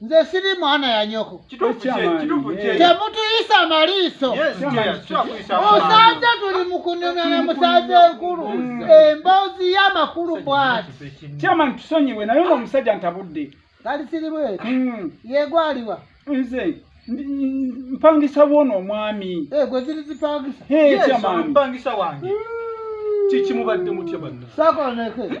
nze siri mwana ya nyoko temutuyisa maliiso osanze tuli mukunyumya na musanze enkulu mm. emboozi y'amakulu bwati kyamani tusonyiwe naye nga omusajja ntabudde kali siri bweti mm. yegwaliwa nze mpangisa wona omwami eh, gwe ziri zipangisa kyamani mpangisa wange mm. kikimubadde mutya banna sakoneke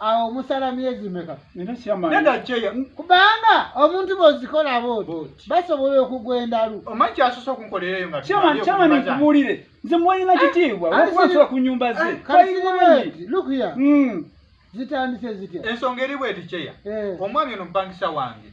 awo omusala myezi meka kubanga omuntu bozikola booti basobola okugwa endalu omankiasosokunkolereyoamanikubuulire nze mwalina ah, kitiibwa wakubasola ku nyumba ze lukuya hmm. zitandise zitya ensonga eri bweti kyeya eh. omwami ono mupangisa wange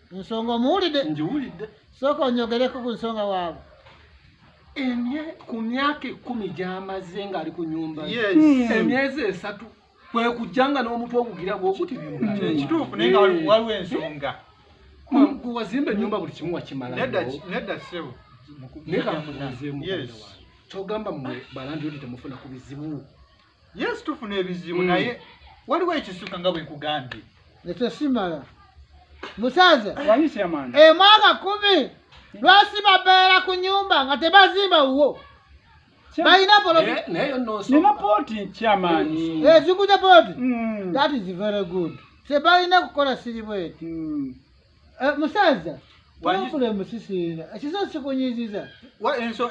ensonga omuwulidde ngiwulidde sooka onyogereko ku nsonga waabwe ku myaka ekkumi gyamaze ng'ali ku nyumba hmm. emyezi esatu kwe kujja nga n'omutwe ogugira gwokuti ekituufu naye nga waliwo ensonga wazimba enyumba buli kimu wakimala nedda sebo naye kamubuzeemu kyogamba mwe balandiyodi temufuna ku bizibu yesu tufuna ebizibu mm. naye waliwo ekisuka nga bwenkugambye ekyo simala musaza emwaka eh, kumi lwasi babeera ku nyumba nga tebazimba wuwo balina polonina poti kyamaani ezikuja poti that is very good tebalina kukola siribweti mm. Eh, musaza pulogulemu sisiina ekizo sikunyiziza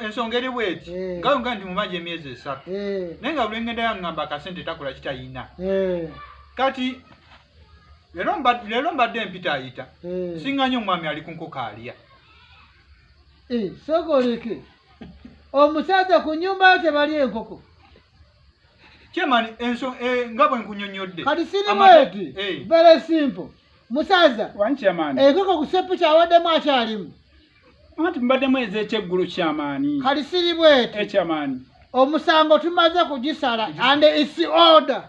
ensonga eri bweti eh. nga nga nti mumaji emyezi esatu eh. naye nga bulengenda yangamba akasente takola kitayina kati lero mbadde empita ayita singa nyo omwami ali kunkoko alya sokoleke omusaza ku nyumba yo tebali enkoko kyemani nga bwenkunyonyodde kati sirimu eti very simple musaza enkoko ku seppu kyawaddemu akyalimu anti mubaddemu ezekyeggulu kyamaani kali siri bweti ekyamaani omusango tumaze kugisala and its order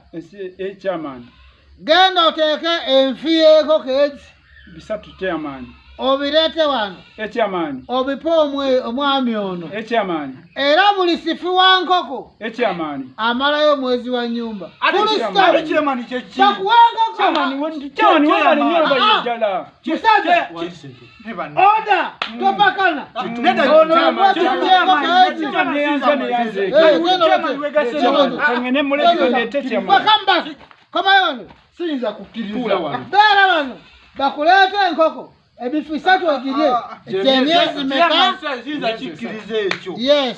ekyamaani genda oteeke enfi yenkoko ezi bisatu kyamaani obireete wano ekyamaanyi obipe omwami ono ekyamaanyi era buli sifi wa nkoko ekyamaanyi amalayo omwezi wa nyumba komayo wano siyinza kukkiriza beera wano bakuleeta enkoko ebifu isatu ogirye ah, ah, ah. gyemyezi meka yes